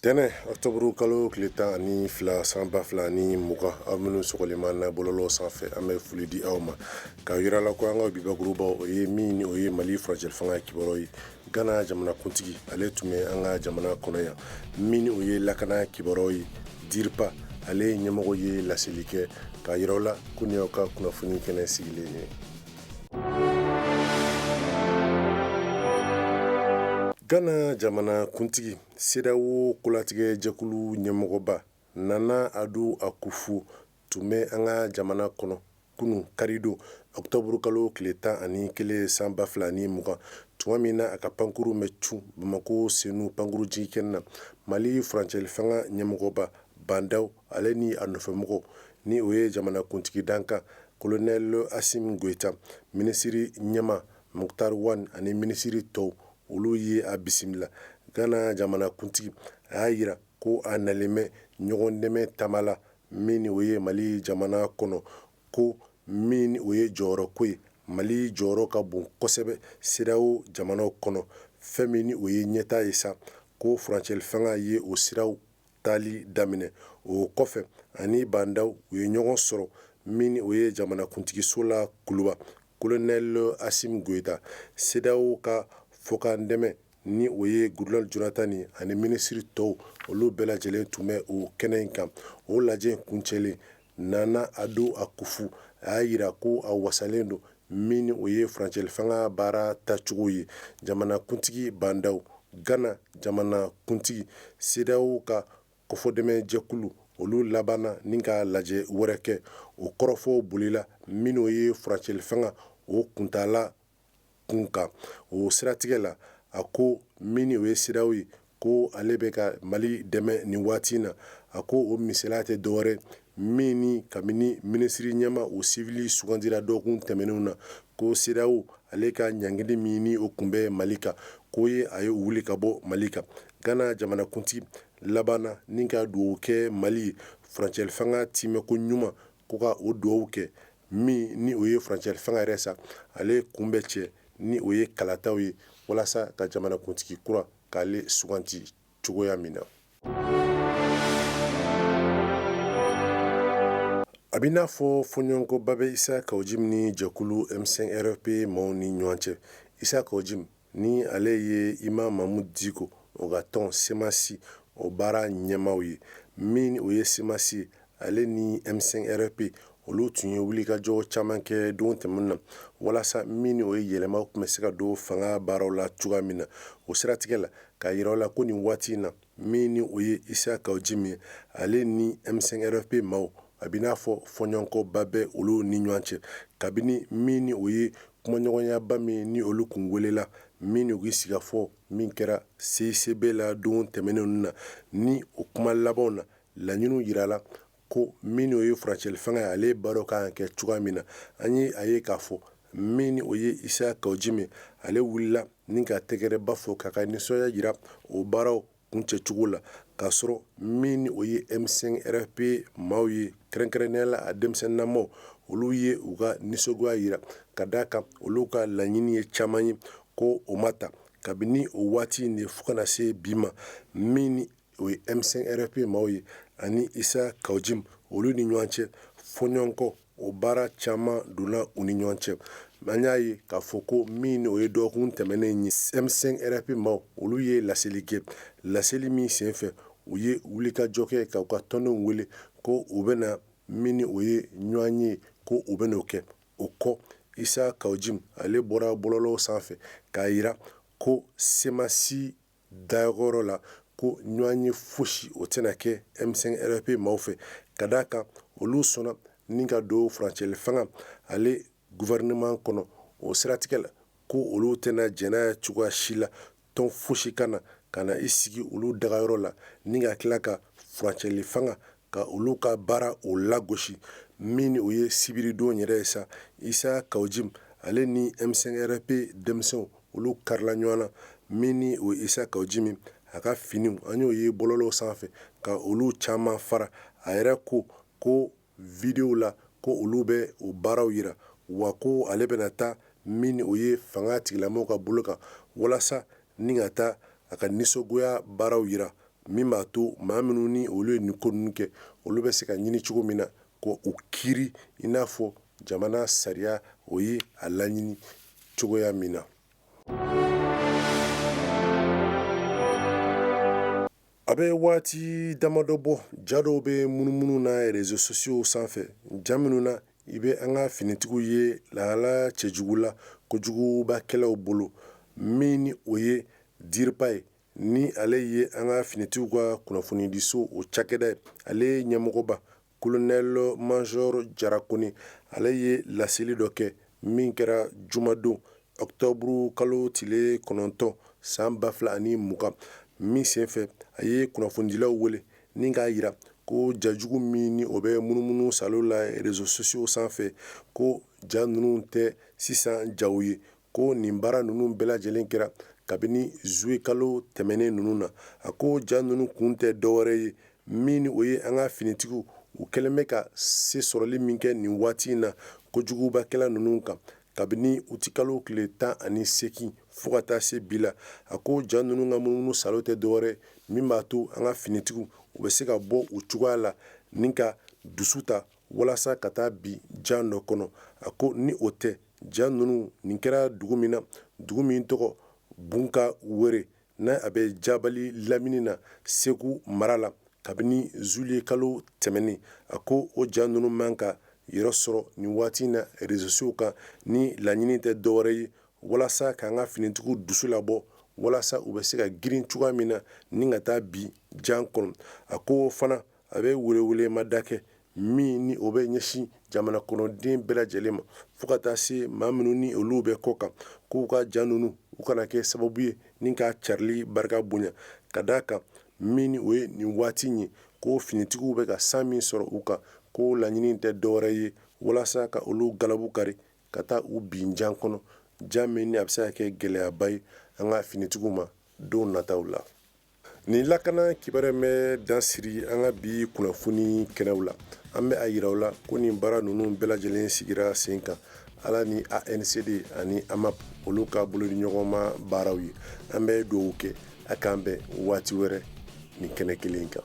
tɛnɛ ɔkutɔburu kalo tile tan ani fila san ba fila ni mugan aw minnu sɔgɔlen b'an na bɔlɔlɔ sanfɛ an bɛ foli di aw ma k'a yira aw la ko an ka bi bakurubaw o ye min ni o ye mali furancɛ fanga kibaruyaw ye gana jamanakuntigi ale tun bɛ an ka jamana kɔnɔ yan min ni o ye lakana kibaruyaw ye DIRPA ale ye ɲɛmɔgɔ ye laseli kɛ k'a yira aw la ko nin y'aw ka kunnafoni kɛnɛ sigilen ye Gana jamana kuntigi CEDEAO kolatigɛjɛkulu ɲɛmɔgɔba Nana Ado Akufo tun bɛ an ka jamana kɔnɔ kunun karidon ɔkutɔburukalo tile tan ani kelen san ba fila ni mugan tuma min na a ka pankurun bɛ cun bamakɔ senu pankurunjiginkɛnɛ na mali furancɛlifanga ɲɛmɔgɔba Bandaw Ale ni a nɔfɛmɔgɔw ni o ye jamanakuntigi dankan kolonɛli Asimi Goyita minisiri ɲɛmaa Mukutari Wani ani minisiri tɔw olu ye a bisimila gana jamanakuntigi a y'a yira ko a nalen bɛ ɲɔgɔn dɛmɛ taama la min ni o ye mali jamana kɔnɔ ko min o ye jɔyɔrɔ ko ye mali jɔyɔrɔ ka bon kosɛbɛ CEDEAO jamana kɔnɔ fɛn min o ye ɲɛtaa ye sa ko furancɛlifanga ye o siraw tali daminɛ o kɔfɛ ani Bandaw u ye ɲɔgɔn sɔrɔ min o ye jamanakuntigiso la kuluba kolonɛli Asimi Goyita CEDEAO ka fɔkan dɛmɛ ni o ye Goodluck Jonathan ani minisiri tɔw olu bɛɛ lajɛlen tun bɛ o kɛnɛ in kan o lajɛ in kuncɛlen Nana Ado Akufo a y'a yira ko a wasalen don min ni o ye furancɛlifanga baara taacogo ye jamanakuntigi Bandaw, Gana jamanakuntigi, CEDEAO ka kofɔdɛmɛnjɛkulu, olu labanna ni ka lajɛ wɛrɛ kɛ o kɔrɔfɔw bolila min n'o ye furancɛlifanga o kuntaala kun kan o siratigɛ la a ko min o ye CEDEAO ye ko ale bɛ ka mali dɛmɛ nin waati in na a ko o misaliya tɛ dɔwɛrɛ min ni kabini minisiri ɲɛmaa o siwili sugandira dɔgɔkun tɛmɛnenw na ko CEDEAO ale ka ɲangili min o tun bɛ mali kan k'o ye a ye o wuli ka bɔ mali kan gana jamanakuntigi labanna ni ka dugawu kɛ mali ye furancɛlifanga tiimɛ ko ɲuman ko ka o dugawu kɛ min ni o ye furancɛ fanga yɛrɛ sa ale kun bɛ cɛ ni o ye kalataw ye walasa ka jamanakuntigi kura k'ale sugandi cogoya min na a bɛ n'a fɔ fɔɲɔgɔnkɔba bɛ Isa Kawu Jimi ni jɛkulu M5 RFP maaw ni ɲɔgɔn cɛ Isa Kawu Jimi Ni ale ye Imam Mamudu Diko o ka tɔn Semasi o baara ɲɛmaaw ye, min o ye Semasi ye, ale ni M5 RFP, olu tun ye wulikajɔ caman kɛ don tɛmɛnenw na, walasa min o ye yɛlɛmaw tun bɛ se ka don fanga baaraw la cogoya min na. O siratigɛ la, k'a jira aw la ko nin waati in na, Min ni o ye Isa Kawujimi ale ni M5 RFP maaw a bɛ n'a fɔ fɔɲɔgɔnkɔba bɛ olu ni ɲɔgɔn cɛ kabini min ni o ye kumaɲɔgɔnyaba min ni olu tun welela min u sigikafɔ min kɛra CICB la don tɛmɛnenw na ni o kuma labanw na laɲini jirala ko min o ye furancɛli fanga ye ale baaraw kan ka kɛ cogoya min na an ye a ye k'a fɔ min o ye Isa Kawujimi ale wulila ni ka tɛgɛrɛba fɔ k'a ka nisɔndiya jira o baaraw kuncɛcogo la k'a sɔrɔ min o ye M5 RFP maaw ye kɛrɛnkɛrɛnnenya la a denmisɛnninnamaw olu ye u ka nisɔngoya jira ka d'a kan olu ka laɲini ye caman ye ko o ma ta kabini o waati in de fo ka na se bi ma min o ye M5 RFP maaw ye ani Isa Kawujimi olu ni ɲɔgɔn cɛ fɔɲɔgɔnkɔ o baara caman donna u ni ɲɔgɔn cɛ an y'a ye k'a fɔ ko min o ye dɔgɔkun tɛmɛnen ye M5 RFP maaw olu ye laseli kɛ laseli min senfɛ u ye wulikajɔ kɛ k'u ka tɔndenw wele ko u bɛna min o ye ɲɔgɔnye ye ko u bɛn'o kɛ o kɔ Isa Kawujimi ale bɔra bɔlɔlɔw sanfɛ k'a jira ko semasi dagayɔrɔ la ko ɲɔgɔnye fosi o tɛna kɛ M5 RFP maaw fɛ ka d'a kan olu sɔnna ni ka don furancɛli fanga ale gouvernement kɔnɔ o siratigɛ la ko olu tɛna jɛn n'a ye cogoya si la tɔn fosi ka na ka na i sigi olu dagayɔrɔ la ni ka tila ka furancɛli fanga ka olu ka baara o lagosi min o ye sibiridon yɛrɛ ye sa Isa Kawujimi ale ni M5 RFP denmisɛnw olu karila ɲɔgɔn na min o Isa Kawujimi a ka finiw an y'o ye bɔlɔlɔw sanfɛ ka olu caman fara a yɛrɛ ko ko videow la ko olu bɛ o baaraw jira wa ko ale bɛna taa min o ye fanga tigilamaw ka bolo kan walasa ni ka taa a ka nisɔngoya baaraw jira min b'a to maa minnu ni olu ye nin ko ninnu kɛ olu bɛ se ka ɲini cogo min na k'u kiiri i n'a fɔ jamana sariya o ye a laɲini cogoya min na a bɛ waati damadɔ bɔ ja dɔw bɛ munumunu na réseaux sociaux sanfɛ ja minnu na i bɛ an ka finitigiw ye lahala cɛjugu la kojugubakɛlaw bolo min ni o ye diba ye Ni ale ye an ka finitigiw ka kunnafonidiso o cakɛda ye ale ɲɛmɔgɔba kolonɛli mazɔri Jara Kone ale ye laseli dɔ kɛ min kɛra jumadon ɔkutɔburu kalo tile kɔnɔntɔn san ba fila ani mugan min senfɛ a ye kunnafonidilaw wele ni k'a yira ko ja jugu min ni o bɛ munumunu saalo la rezo sosiyo sanfɛ ko ja ninnu tɛ sisan jaw ye ko nin baara ninnu bɛɛ lajɛlen kɛra kabini zuye kalo tɛmɛnen ninnu na a ko ja ninnu kun tɛ dɔwɛrɛ ye min ni o ye an ka finitigiw u kɛlen bɛ ka se sɔrɔli min kɛ nin waati in na kojugubakɛla ninnu kan kabini uti kalo tile tan ani segin fo ka taa se bi la a ko ja ninnu ka munumunu saalo tɛ dɔwɛrɛ min b'a to an ka finitigiw u bɛ se ka bɔ u cogoya la ni ka dusu ta walasa ka taa bin jan dɔ kɔnɔ a ko ni o tɛ ja ninnu nin kɛra dugu min na dugu min tɔgɔ Bunka Wɛrɛ n'a bɛ Jabali lamini na Segu mara la kabini zuye kalo tɛmɛnen a ko o ja ninnu man ka yɔrɔ sɔrɔ nin waati in na rezo sosiyo kan ni laɲini tɛ dɔwɛrɛ ye walasa ka an ka finitigiw dusu labɔ walasa u bɛ se ka girin cogoya min na ni ka taa bin jan kɔnɔ a ko fana A bɛ welewelemada kɛ min ni o bɛ ɲɛsin jamana kɔnɔden bɛɛ lajɛlen ma fo ka taa se maa minnu ni olu bɛ kɔ kan k'u ka ja ninnu u kana kɛ sababu ye ni ka carili barika bonya ka d'a kan min ni o ye nin waati ye ko finitigiw bɛ ka san min sɔrɔ u kan ko laɲini tɛ dɔwɛrɛ ye walasa ka olu galabu kari ka taa u bin jan kɔnɔ jan min ni a bɛ se ka kɛ gɛlɛyaba ye an ka finitigiw ma don nataw la Nin lakana kibaruya bɛ dasiri an ka bi kunnafoni kɛnɛw la an bɛ a yira aw la ko nin baara ninnu bɛɛ lajɛlen sigira sen kan ala ni ANCD ani AMAP olu ka bolodiɲɔgɔnma baaraw ye an bɛ dugawu kɛ a k'an bɛn waati wɛrɛ nin kɛnɛ kelen kan